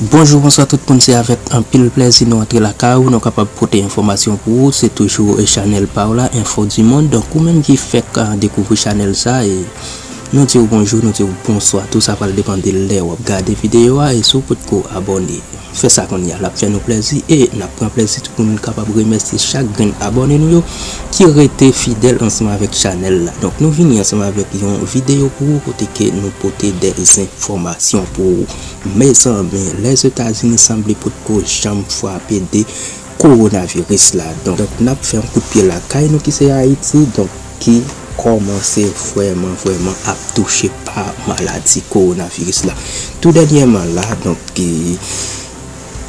Bonjou bonswa tout moun se avèk anpil plèzi nou antre lakay ou nou kapab pote enfòmasyon pou ou se toujou chanèl pa ou la enfo du monde donk ou menm ki fèk dekouvri chanèl sa e nou diw bonjou nou diw bonswa tou sa pral depan de lè wap gade videyo a e si ou potko abòne fè sa kounya lap fè nou plèzi e nap pran plèzi tou pou nou kapab remèsye chak grenn abòne nou yo ki rete fidèl ansanm avèk chanèl la donk nou vini ansanm avèk yon videyo pou ou kote ke nou pote de zenfòmasyon pou ou mezanmi lèzetazini sanble potko janm fwape de kowonaviris la donk nap fè yon kout pye lakay nou ki se ayiti donk ki kòmanse vrèman vrèman ap touche pa maladi kowonaviris la tou dènyèman la donk.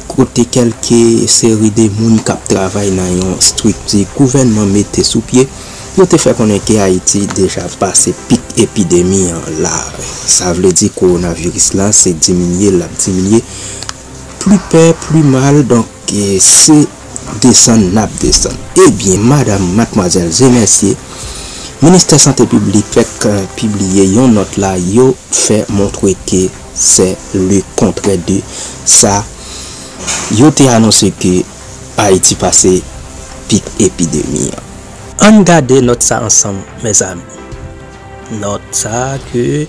kote kèlke seri de moun k ap travay nan yon estrikti gouvènman mete sou pye, yo te fè konnen ke Ayiti deja pase pik epidemi an la. Sa vle di kowonaviris la se diminye l ap diminye, pli pè pli mal, donk se desann n ap desann. Ebyen, madam, matmwazèl, ze mèsye, Ministè Sante Piblik fèk pibliye yon nòt la, yo fè montre ke. Se le kontrè de sa yo te anonse ke Ayiti pase pik epidemi an. Ann gade nòt sa ansanm mezanmi. Nòt sa ke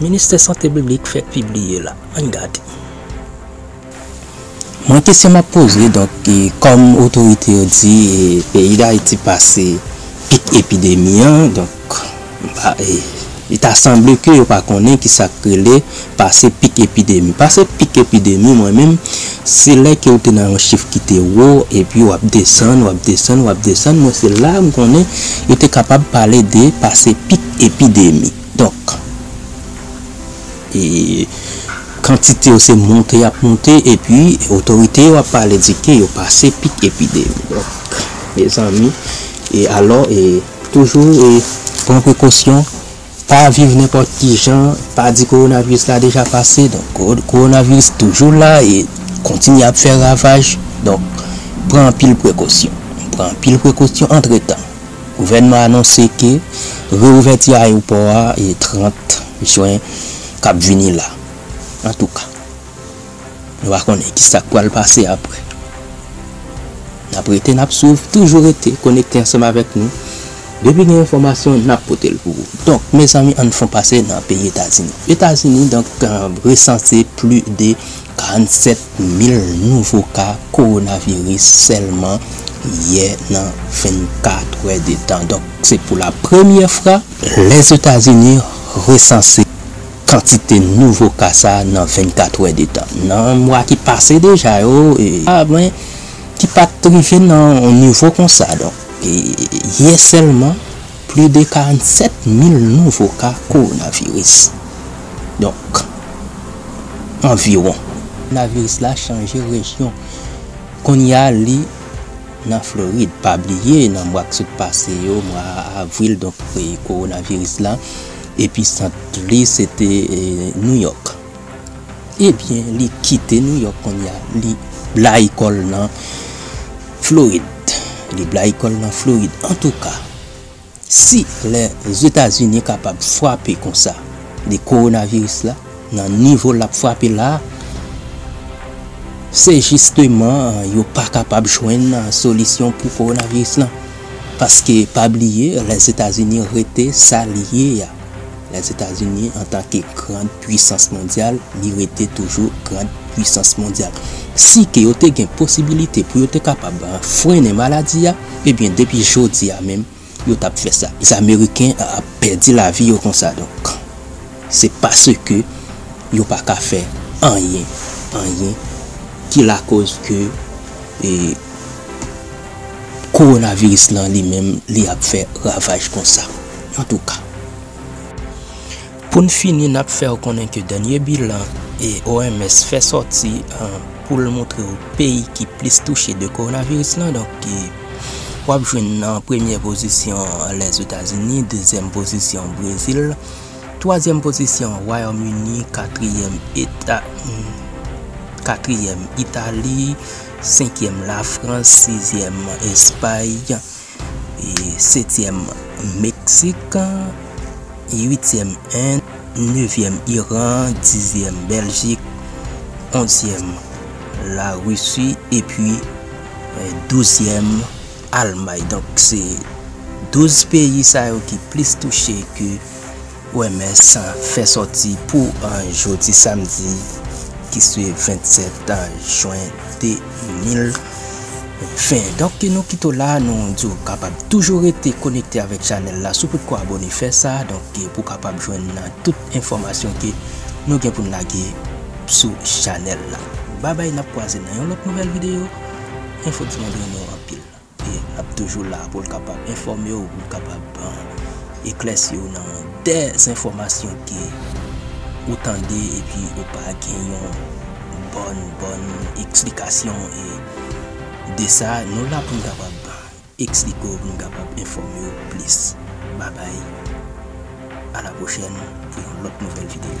Ministè Sante Piblik fèk pibliye la. Ann gade. Mwen kesyon map poze donk kòm otorite yo di peyi dayiti pase pik epidemi an donk li ta sanble ke yo pa konnen kisak rele pase pik epidemi pase pik epidemi mwen menm se lè ke ou te nan yon chif ki te wo epi wap desann wap desann wap desann mwen se la m konnen yo te kapab pale de pase pik epidemi donk. Kantite yo se monte y ap monte epi otorite yo ap pale di ke yo pase pik epidemi. Donk, mezanmi, e alò e toujou e pran prekosyon, pa viv nenpòt ki jan, pa di kowonaviris la deja pase. Donk, kowonaviris toujou la e kontinye ap fè ravaj. Donk, pran anpil prekosyon. Pran anpil prekosyon antretan. Gouvènman anonse ke reouvèti ayewopò a 30 Jwen kap vini la. Antouka, nou pa konnen ki sak pral pase aprè. Nap rete nap swiv, toujou rete konekte ansanm avèk nou. Depi gen enfòmasyon nap pote l pou ou. Donk mezanmi ann fon pase nan peyi Etazini. Etazini donk resanse pli de 47 1000 nouvo ka kowonaviris sèlman yè nan 24 wè de tan. Donk se pou la premyè fra. Lèzetazini resanse kantite nouvo ka sa nan 24 wè de tan. Nan mwa ki pase deja yo, ka mwen ki pat rive nan yon nivo konsa. Donk yè sèlman. Plis de 47 mil nouvo ka kowonaviris, donk anviwon. Kowonaviris la chanje rejyon, kounye a li nan Florid. Pa bliye nan mwa k sot pase yo, mwa avril, donk kowonaviris la episant li se te Nouyòk. Ebyen li kite Nouyòk kounye a, li blayi kò l nan. Florid, li blayi kòl nan Florid antouka si lè zetazini kapab fwape konsa de kowonaviris la nan nivo lap fwape la se jisteman yo pa kapab jwenn solisyon pou kowonaviris lan paske pa bliye lè zetazini rete sa li ye a. Lèzetazini antake grand pwisans mondyal li rete toujou grand pwisans mondyal. Si ke yo te gen posibilite pou yo te kapab frennen maladi a ebyen depi jodi a menm yo tap fè sa. Ameriken ap pèdi lavi yo konsa donk se paske yo pa ka fè anyen anyen ki lakoz ke e kowonaviris lan li menm li ap fè ravaj konsa. Antouka, pou n fini n ap fè w konnen ke dènye bilan OMS fè sòti pou l montre w peyi ki plis touche de kowonaviris lan, donk w ap jwenn nan premyè pozisyon Lèzetazini, dezyèm pozisyon Brezil, twazyèm pozisyon Wayòm Ini, katriyèm eta, katriyèm Itali, senkyèm Lafrans, sizyèm Espay. Setyèm, Meksik, uityèm, End, nevyèm, Iran, dizyèm, Bèljik, onzyèm, Larisi, epi douzyèm, Almay. Donk se douz peyi sa yo ki plis touche ke OMS fè sòti pou jodi samdi ki se 27 jwen 2020. Donk ke nou kite w la, nou di w kapab toujou rete konekte avèk chanèl la si w potko abone fè sa, donk ke pou w kapab jwenn tout enfòmasyon ke nou gen pou n lage sou chanèl la. Babay n ap kwaze nan yon lòt nouvèl videyo, enfo di mwen beni w anpil. E ap toujou la pou l kapab enfòme w, pou l kapab eklèsi w nan dè zenfòmasyon ke ou tande epi ou pa gen yon bòn, bòn eksplikasyon e de sa. Nou la pou n kapab eksplike w, pou n kapab enfòme w plis. Babay. A la pwochèn pou yon lòt nouvèl videyo.